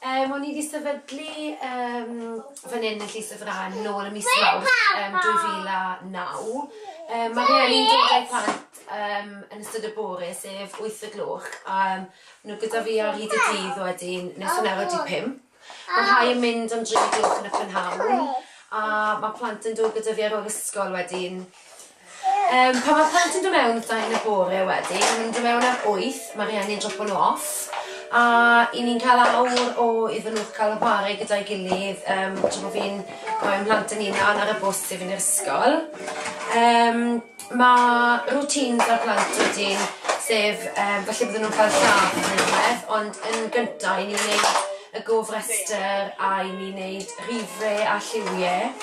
Yym, o'n i 'di sefydlu yym fan 'yn yn Llys y Frân nôl ym mis Mawrth yym 2009. Yym, ma' rhieni'n dod â'u plant yym yn ystod y bore, sef wyth y gloch, a yym ma' nw gyda fi ar hyd y dydd wedyn nes hanner wedi pump. Ma' rhai yn mynd am dri o'r gloch yn y prynhawn, a ma' plant yn dod gyda fi ar ôl ysgol wedyn. Yym pan mae plant yn dod mewn wrtha i yn y bore wedyn, maen nhw'n dod mewn ar wyth, mae rhieni yn dropo nhw off, a i ni'n cael awr o iddyn nhw cael y chwarae gyda'i gilydd, um, tra bod fi'n rhoi mhlant yn unan ar y bws i fynd i'r ysgol. Um, mae routines ar plant wedyn, sef, um, felly bydden nhw'n cael llath yn rhywbeth, ond yn gyntaf i ni'n gwneud y gofrestr a i ni'n gwneud rhifau a lliwiau.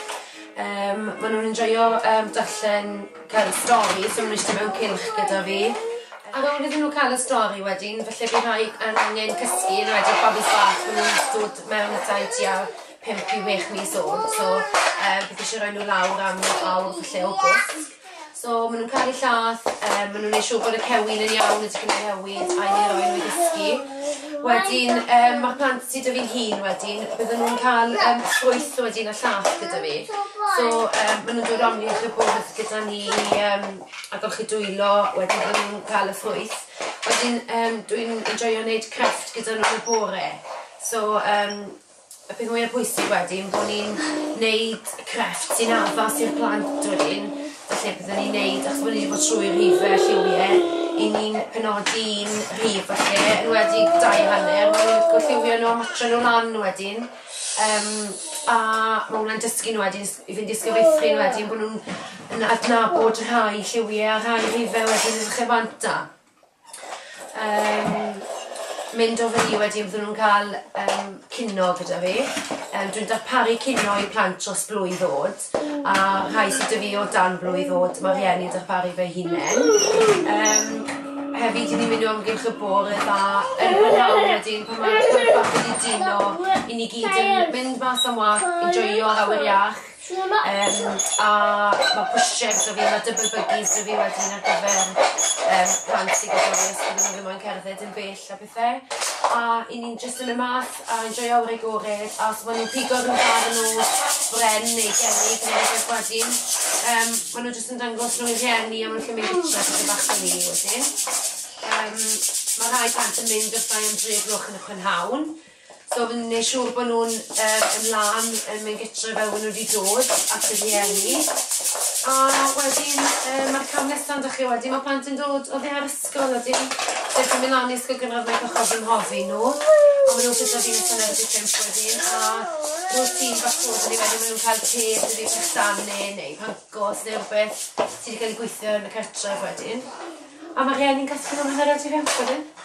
Yym ma' nw'n enjoio yym darllen cerdd stori so ma' n'w iste mewn cylch gyda fi. Ar ôl iddyn n'w ca'l y stori wedyn falle by' rhai yn angen cysgu yn enwedig babis bach ma' nw'n dod mewn a tai tua pump i wech mis old so yym fi isie roi n'w lawr am awr falle o gwsg. So ma' nw'n caru llath yym ma' nw'n neu' siŵr bod y cewin yn iawn y tipyn o newid a i roi n'w i gysgu. Wedyn yym ma'r plant sy 'da fi'n hŷn wedyn bydden nw'n ca'l yym ffrwyth wedyn a llath gyda fi. So yym ma' nw'n dod lan i chi bob wthnos gyda ni i yym agor chi dwylo wedyn bydden nw'n ca'l y ffrwyth. Wedyn yym dwi'n enjoio neud crefft gyda n'w yn y bore so yym Y peth mwya pwysig wedyn bo' ni'n neud crefft sy'n addas i'r plant wedyn falle bydden ni'n neud achos bo' ni 'di bod trwy rhife lliwie 'yn ni'n penodi un rhif falle enwedig dau a hanner ma' nw'n gorllewio nw a matcho nw lan wedyn yym a ma' wnna'n dysgu nw wedyn s- i fynd i'r sgefeithrin wedyn bo' nw'n yn adnabod rhai lliwie a rhai rhife wedyn yn y lle bant a um, mynd o fyny wedyn fydden nhw'n cael um, cino gyda fi. Um, dwi'n darparu cino i plant dros blwydd ddod, a rhai sydd dy fi o dan blwydd ddod, mae rhieni darparu fe hunain. Um, hefyd, i ni mynd o amgylch y bor y dda yn gwneud wedyn pan mae'r plant bach wedi dino i ni gyd yn mynd mas am wach, i joio'r awyr iach. Yym a ma' pushchairs 'da fi ma' double buggies 'da fi wedyn ar gyfer yym plant sy gyda fi os bydden nw ddim moyn cerdded yn bell a pethe. A 'yn ni'n jyst yn y math a enjoio awyr agored a os ma' nw'n pigo ryw fath o nos bren neu gerrig ne' rwbeth wedyn yym ma' nw jyst yn dangos nw i rhieni a ma' nw'n gallu mynd gytre a pethe bach fel 'ny wedyn. Yym ma' rhai plant yn mynd wrthai am dri o gloch yn y prynhawn. So fi'n neud siŵr bod nhw'n yy yn lân yn mynd gytre fel bod nhw wedi dod at y rhieni. A wedyn yy ma'r cam nesa'n dych chi wedyn mae plant yn dod oddi ar ysgol a dim jyst yn mynd lan i ysgol gynradd mae cychod fy mhrofi nhw. A maen nhw'n gyda fi nes yn erbyn pump wedyn a rwy'r tîm bach bod yn ei wedyn maen nhw'n cael te sydd wedi bychanu neu pancos neu rhywbeth sydd wedi cael ei gweithio yn y cartref wedyn. A mae rhieni'n casglu nhw hanner awr tu fewn, ti'n gwybod be?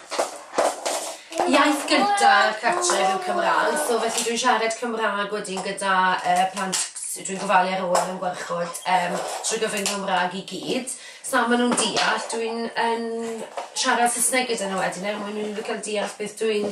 Iaith gyda'r cartref yw Cymraeg, so felly dwi'n siarad Cymraeg wedyn gyda uh, plant dwi'n gofalu ar ôl yn gwarchod um, trwy gyfrwng Cymraeg i gyd. So maen nhw'n deall, dwi'n yn siarad Saesneg gyda nhw wedyn er mwyn nhw'n cael deall beth dwi'n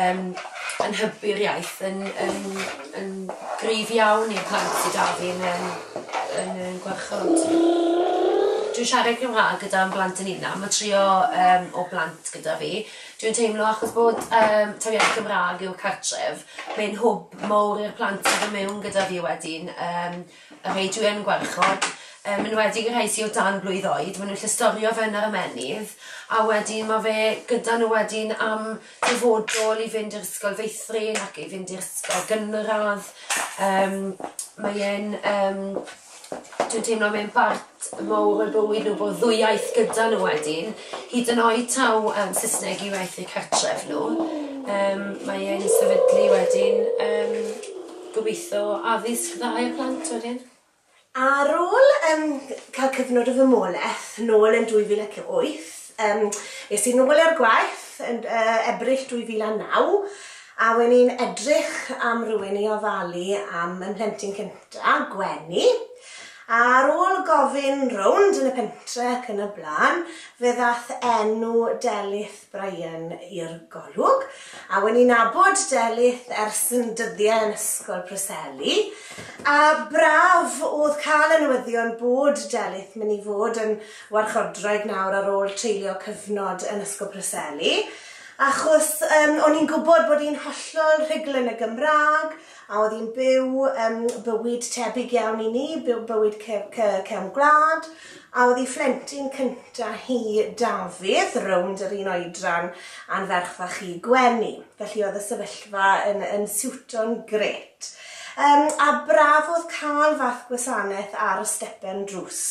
yn yn hybu'r iaith yn yn yn gryf iawn i'r plant sy 'da fi yn yym yn yn gwarchod. Dwi'n siarad Cymra'g gyda'n blant yn unan ma' trio yym o blant gyda fi dwi'n teimlo achos bod yym taw iaith Gymra'g yw'r cartref mae'n hwb mowr i'r plant sy do' mewn gyda fi wedyn yym a rhei dwi yn gwarchod, yn enwedig y rhei sy o dan blwydd oed, ma' nw'n llostorio fe yn yr ymennydd a wedyn ma' fe gyda n'w wedyn am dyfodol i fynd i'r ysgol feithrin ac i fynd i'r ysgol gynradd yym mae e'n yym dwi'n teimlo mae'n bartoad T mowr o'u bywyd nhw, bod ddwywaith gyda nhw wedyn, hyd yn oed taw um, Saesneg i waith eu cartref nhw. Um, mae e'n sefydlu wedyn um, gobeithio addysg dda i'r plant wedyn. Ar ôl um, cael cyfnod o fymolaeth nôl yn 2008, um, es i'n nôl ar gwaith yn uh, Ebrill 2009, a wedyn i'n edrych am rhywun i ofalu am ymhlentyn cyntaf, Gwenny, Ar ôl gofyn rownd yn y pentre ac yn y blaen, fe ddaeth enw Delyth Bryan i'r golwg, a wen i'n nabod Delyth ers yn dyddiau yn Ysgol Preseli, a braf o'dd cael y newyddion bod Delyth myn' i fod yn warchodwraig nawr ar ôl treulio cyfnod yn Ysgol Preseli, achos yym o'n i'n gwbod bod 'i'n hollol rhugl yn y Gymrâg, A oedd hi'n byw yym bywyd tebyg iawn i ni, byw bywyd ce- ce- cefn gwlad, a oedd ei phlentyn cynta hi, Dafydd, rownd yr un oedran a'n ferch fach i, Gwenny. Felly oedd y sefyllfa yn yn siwto'n grêt. Yym a braf oedd cael fath gwasanaeth ar y stepen drws.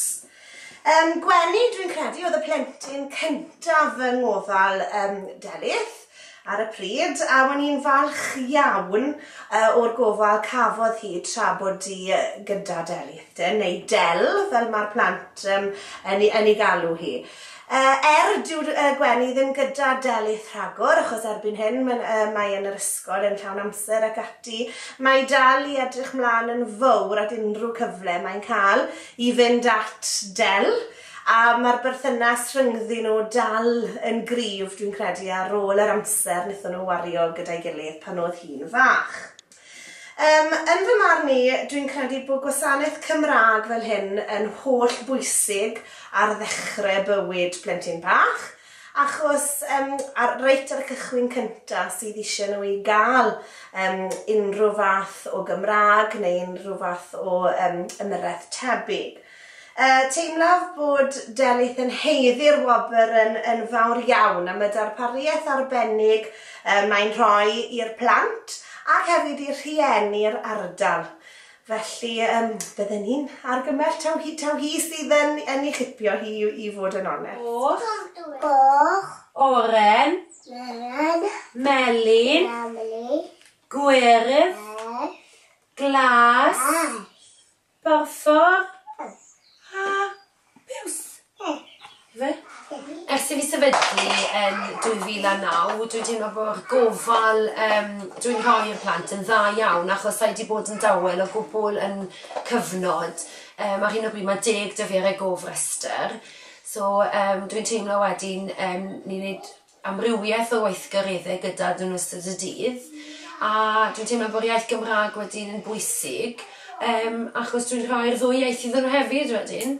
Yym, Gwenny, dwi'n credu oedd y plentyn cyntaf fy ngofal um, Delyth ar y pryd, a o'n i'n falch iawn uh, o'r gofal cafodd hi tra bod di gyda Delyth, dyn, neu Del, fel mae'r plant um, yn, yn ei galw hi. Uh, er dyw uh, Gwenny ddim gyda Delyth rhagor, achos erbyn hyn mae, uh, mae yn yr ysgol yn llawn amser ac ati, mae dal i edrych mlaen yn fawr at unrhyw cyfle mae'n cael i fynd at Dell, a ma'r berthynas rhyngddyn nhw dal yn gryf dwi'n credu ar ôl yr amser wnaethon nhw wario gyda'i gilydd pan oedd hi'n fach. Yym, yn fy marn i, dwi'n credu bod gwasanaeth Cymraeg fel hyn yn holl bwysig ar ddechrau bywyd plentyn bach, Achos yym ar reit ar y cychwyn cynta sydd ishe nhw i ga'l yym unrhyw fath o Gymrâg neu unrhyw fath o yym ymyrraeth tebyg. Yy teimlaf bod Delyth yn haeddu'r wobr yn yn fawr iawn am y darpariaeth arbennig yy mae'n rhoi i'r plant ac hefyd i'r rhieni'r ardal. Felly, yym, bydden ni'n argymell taw hi, taw hi sydd yn, yn ei chipio hi i, i fod yn onest. Goch. Goch. Oren. Oren. Melyn. Melyn. Gwyrdd. Gwyrdd. Glas. Glas. Porffor. Porffor. A Piws! Ife? Ers i fi sefydlu yn 2009, dwi'n teimlo bo'r gofal yym dwi'n rhoi i'r plant yn dda iawn achos sai 'di bod yn dawel o gwbwl yn cyfnod yym ar hyn o bryd ma' deg 'da fi ar y gofrestyr so yym dwi'n teimlo wedyn yym ni'n neud amrywieth o weithgaredde gyda n'w yn ystod y dydd a dwi'n teimlo bo'r iaith Gymra'g wedyn yn bwysig yym achos dwi'n rhoi'r ddwy iaith iddon n'w hefyd wedyn.